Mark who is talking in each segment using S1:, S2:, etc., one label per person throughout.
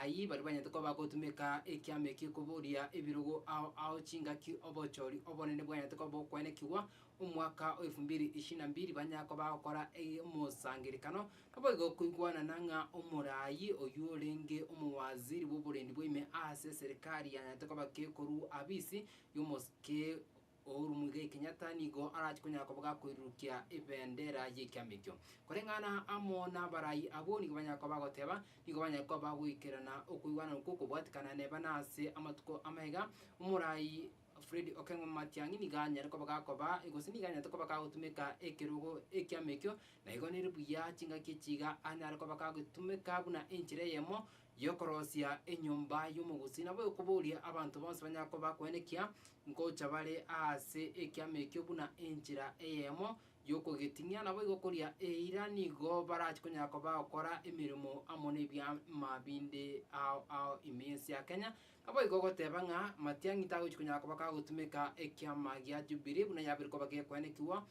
S1: Ayio baria banyete koba bagotumeka ekiama ekio koboria ebirogo ao ao chingaki obochori obonene bwanyete koba bokoenekigwa omwaka o efu mbiri ishirini na mbiri banyare koba bagokora omosangerekano naboigo koigwanana ng'a omoraai oyio orenge omowaziri bw'oborendi bwa ime aase eserikari yanyarete koba kekorua abisi y'omosike Uhuru Muigai Kenyatta nigo arache konyara koboga koirurukia ebendera y'ekiama ekio. Koreng'ana amo n'abarai abwo nigo banyare koba bagoteba, nigo banyare koba bagoikerana okoigwana okwo kobwatikana neba na ase amatuko amaiga, Omorai Fred Okeng'oma Matiang'i nigo anyare koba gakoba gose nigo anyarete koba gagotumeka ekerogo ekiama ekio, na igo nere buya chingaki echi iga anyare koba gagetumeka buna enchera eyemo Y'okorosia enyomba y'omogusii nabo ekoboria abanto bonsi banyare koba bakwenekia ngocha bare aase ekiama ekio buna enchera eyemo y'okogeting'ia, naboigo koria eira nigo barache konyara koba bagokora emeremo amo nebiama binde ao ao ime y'ense ya Kenya. Naboigo ogoteba ng'a matiang'i tagochi konyara koba kagotumeka ekiama gia Jubilee buna yabeire koba gekwenekigwa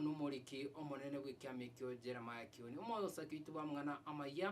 S1: nomoriki omonene bw'ekiama ekio Jeremiah Kioni. Omosake oito bwamang'ana amayia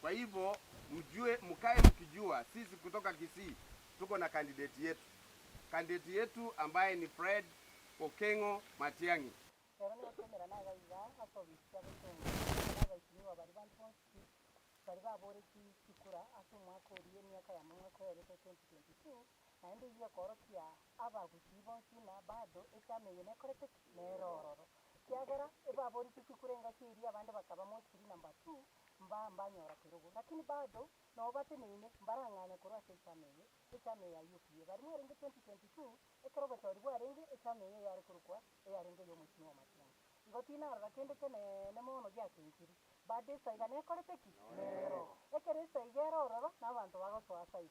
S1: Kwa hivo mjue mkae mkijua sisi kutoka Kisii tuko na candidate yetu. Candidate yetu ambaye ni Fred Okeng'o Matiang'i. Ero nigo twemera na iga iga ase obisikia bw'ekeong'e na abaitimiwa baria bande bonsi baria baboretie chikura ase omwaka oria emiaka ya mang'ana kwerete 2022, naende eyio ekoorokia abagusii bonsi na bado echama eye nekorete ki? Nere ororo. Ekiagera ebaborisigwe kure engaki eria abande bakaba mosiri na mbatu, mbaa mbanyora kerogo. Lakini bado nao bateneine, mbarang'anya korwa ase echama eye, echama eye ya UPA. Barimo arenge 2022, ekero obochori bwarenge, echama eye yare korokwa eyarenge ey'omochie bw'amachunga. Igo tinarora kende keneene mono giakenkiri. Bado esaiga nekorete ki? Nero. Ekero esaiga ere ororo, nabanto bagosoa ase aye.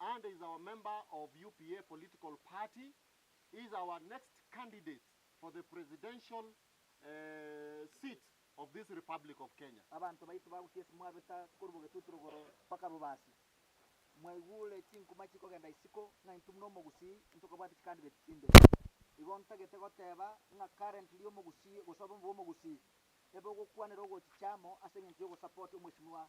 S1: and is our member of UPA political party, is our next candidate for the presidential seat of this Republic of Kenya. Abanto baito bagokia ase mwabeta korwa bogetutu rogoro mpaka rubasi, mwaigure chinkuma chikogenda isiko ng'a intwe buna omogusii ntokobwate chicandidate chinde. Igo ntagete goteba ng'a currently omogusii gose obomo bw'omogusii ebe ogokwanera ogochicha amo ase engencho y'ogosupport omweshimiwa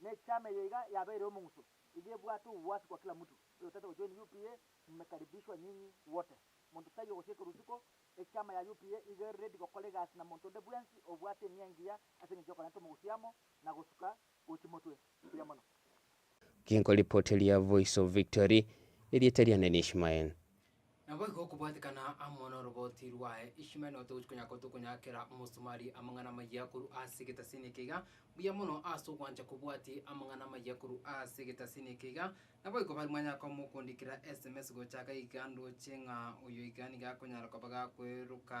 S1: Nechama eye iga yabeire omong'uso, iga ebwate obwasi kwa kila mtu, oyotagete gojoin UPA mmekaribishwa nyinyi wote. Monto taiyo gosieka rituko, echama ya UPA iga ere ready gokora egasi na monto onde bwensi obwate enia engiya ase eng'encho y'okorenta omogusi amo na gosuka gwe chimotwe chiria mono. Ginkoripoti ria Voice of Victory, erieta riane ni Ishmael. Naboigo okobwatekana amo noroboti rwaye Ishmael notogochi konya kotokonyakera omosomari amang'ana amayia korwa ase egetasini eke iga, mbuya mono ase ogwancha kobwati amang'ana amayia korwa ase egetasini eke iga, naboigo bari mwanya komokondikera sms gocha iga ndoche ng'a oyo iga nigo akonyara koba gakweroka